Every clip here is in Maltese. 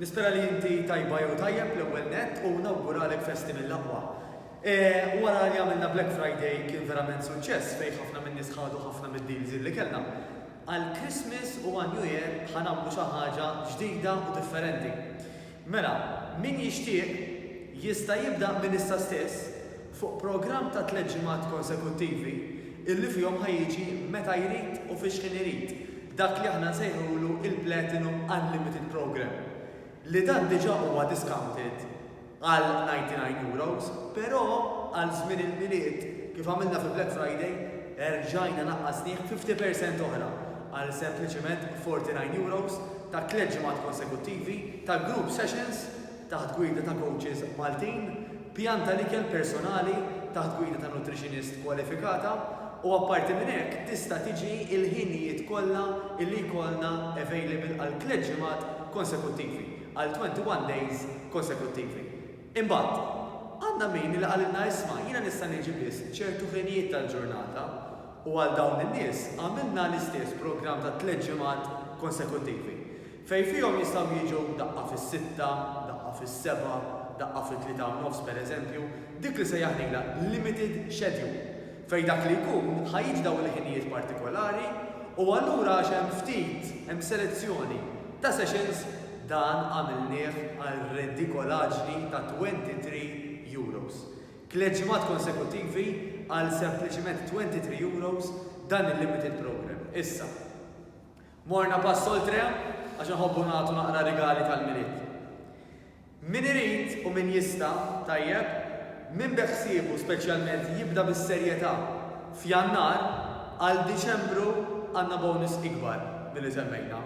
Nispera li inti tajba jew tajjeb l-ewwel nett u nawguralek festi mill-aqwa. Wara li għamilna Black Friday kien verament suċċess fejn ħafna min-nies ħadu ħafna mid-deals li kellna. Għal Christmas u għal New Year ħa nagħmlu xi ħaġa ġdida u differenti. Mela, min jixtieq jista' jibda minn issa stess. fuq programm ta' tliet ġimgħat konsekuttivi illi fihom ħa jiġi meta jrid u fi xħin irid, dak li aħna nsejħulu il-Platinum Unlimited Programme, li dan diġà huwa discounted għal €99, però għal żmien il-Milied, kif għamilna fi Black Friday, erġajna naqqasnieh fifty percent oħra għal sempliċiment €49 ta' tliet ġimgħat konsekuttivi ta' group sessions, taħt gwida ta' kowċis Maltin, pjan tal-ikel personali taħt gwida ta' nutrixinist kwalifikata, u apparti minn hekk tista' tiġi l-ħinijiet kollha li jkollna available għal tliet ġimgħat konsekuttivi, għal 21 days konsekuttivi. Imbagħad, għandna min li qalilna isma' jiena nista' niġi biss ċertu ħinijiet tal-ġurnata, u għal dawn in-nies għamilna l-istess programm ta' tliet ġimgħat konsekuttivi. Fejn fihom jistgħu jiġu daqqa fis-sitta, daqqa fis-sebgħa, daqqa fit-tlieta u nofs pereżempju, dik li sejjaħnilha limited schedule, fejn dak li jkun ħa jiġi dawn il-ħinijiet partikolari u allura għax hemm ftit, hemm selezzjoni ta' sessions, dan għamilnieh għal redikolaġni ta' twenty three euros. Tliet ġimgħat konsekuttivi għal sempliċiment twenty three euros dan il-limited programme. Issa. Morna pass oltre għax inħobbu nagħtu naqra rigali tal-Milied. Min irid u min jista', tajjeb, min beħsiebu speċjalment jibda bis-serjetà f'Jannar, għal Diċembru għandna bonus ikbar milli semmejna.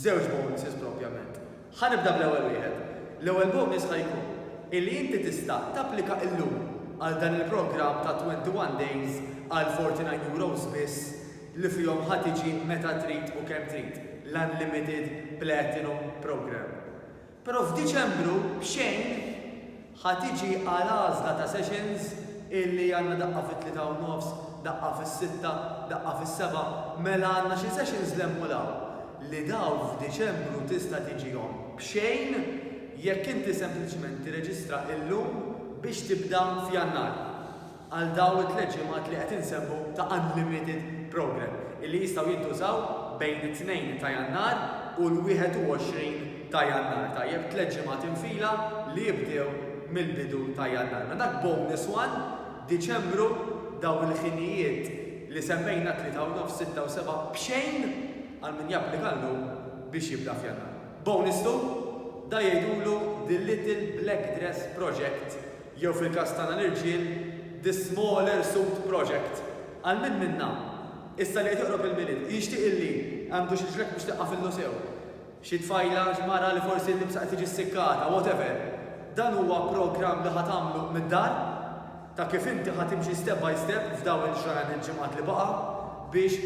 Żewġ bonuses propjament. Ħa nibda bl-ewwel wieħed. L-ewwel bonus ħa jkun illi inti tista' tapplika illum għal dan il-programm ta' 21 days għal €49 biss li fihom ħa tiġi meta trid u kemm trid, l-Unlimited Platinum Programme. Però f'Diċembru, b'xejn, ħa tiġi għal għażla ta' sessions illi għandna daqqa fit-tlieta u nofs, daqqa fis-sitta, daqqa fis-sebgħa, mela għandna xi sessions 'l hemm u 'l hawn, li dawn f'Diċembru tista' tiġihom b'xejn jekk inti sempliċement tirreġistra illum biex tibda f'Jannar. għal dawn it-tliet ġimgħat li qed insemmu ta' unlimited program illi jistgħu jintużaw bejn it-tnejn ta' Jannar u l-21 ta' Jannar, tajjeb, tliet ġimgħat infila li jibdew mill-bidu ta' Jannar. Mela dak bonus one, Diċembru, dawn il-ħinijiet li semmejna tlieta u nofs, sitta u seba' b'xejn għal min japplika llum biex jibda f'Jannar. Bonus two, dan jgħidulu the little black dress project jew fil-każ tagħna l-irġiel, The Smaller Suit Project. Għal min minna, issa li qed joqrob il-Milied, jixtieq illi għandu xi ġrek biex tiqqafillu sew? Xi tfajla, mara li forsi l-libsa qed tiġi ssikkata, whatever. Dan huwa programm li ħa tagħmlu mid-dar, ta' kif inti ħa timxi step by step f'dawn il-ġranet ġimgħat li baqa' biex,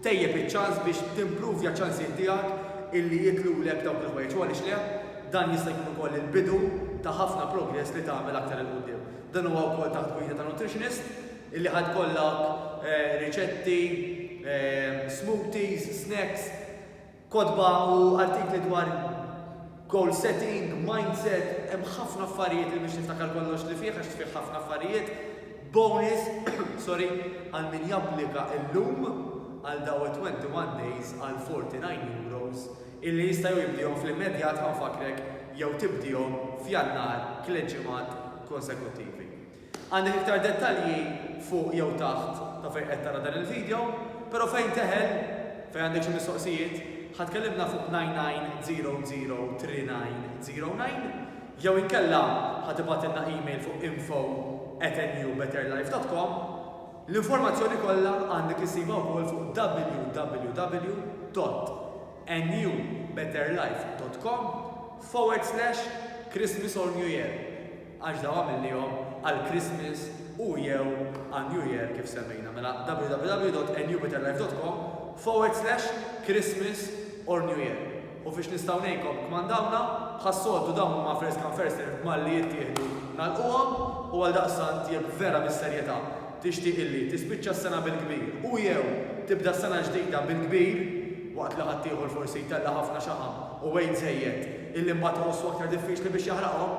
Tejjeb iċ-ċans biex timpruvja ċ-ċansijiet tiegħek illi jitlulek dawk il-ħwejjeġ u għaliex le, dan jista' jkun ukoll il-bidu ta' ħafna progress li tagħmel aktar 'il quddiem. Dan huwa wkoll taħt gwida ta' nutritionist illi ħa tkollok riċetti, smoothies, snacks, Kotba u artikli dwar goal setting, mindset, hemm ħafna affarijiet li mhix niftakar kollox li fih għax fih ħafna affarijiet. Bonus, sorry, għal min japplika illum għal daw it-21 days għal €49 illi jista' jew jibdihom fl-immedjat ma nfakkrek jew tibdihom f'Jannar tliet ġimgħat konsekuttivi. Għandek iktar dettalji fuq jew taħt ta' fejn qed tara dan il-video, pero fejn teħel, fejn għandek xi mistoqsijiet, ħa tkellimna fuq 99003909 jew inkella ħa tibgħatilna email fuq info@newbetterlife.com. L-informazzjoni kollha għandek issibha wkoll fuq www.newbetterlife.com/christmasornewyear. għax dawn għamilnihom għal Christmas u jew għal New Year kif semmejna mela www.newbetterlife.com forward slash Christmas or New Year u fiex nistgħu ngħinkom kmandawna bħas-soltu dawn huma first come first serve b'mal li jittieħdu nagħlquhom u għal daqstant jekk vera bis-serjetà tixtieq illi tispiċċa s-sena bil-kbir u jew tibda s-sena ġdida bil-kbir waqt li ħaddieħor forsi jtella' ħafna xaħam u wejt żejjed illi mbagħad iħossu aktar diffiċli biex jaħraqhom,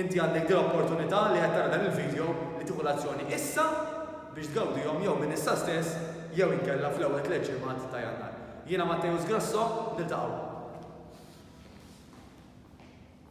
inti għandek din l-opportunità li qed tara dan il-vidjow li tieħu l-azzjoni issa biex tgawdihom jew minn issa stess jew inkella fl-ewwel tliet ġimgħat ta' Jannar. Jiena Matteus Grasso, niltaqgħu.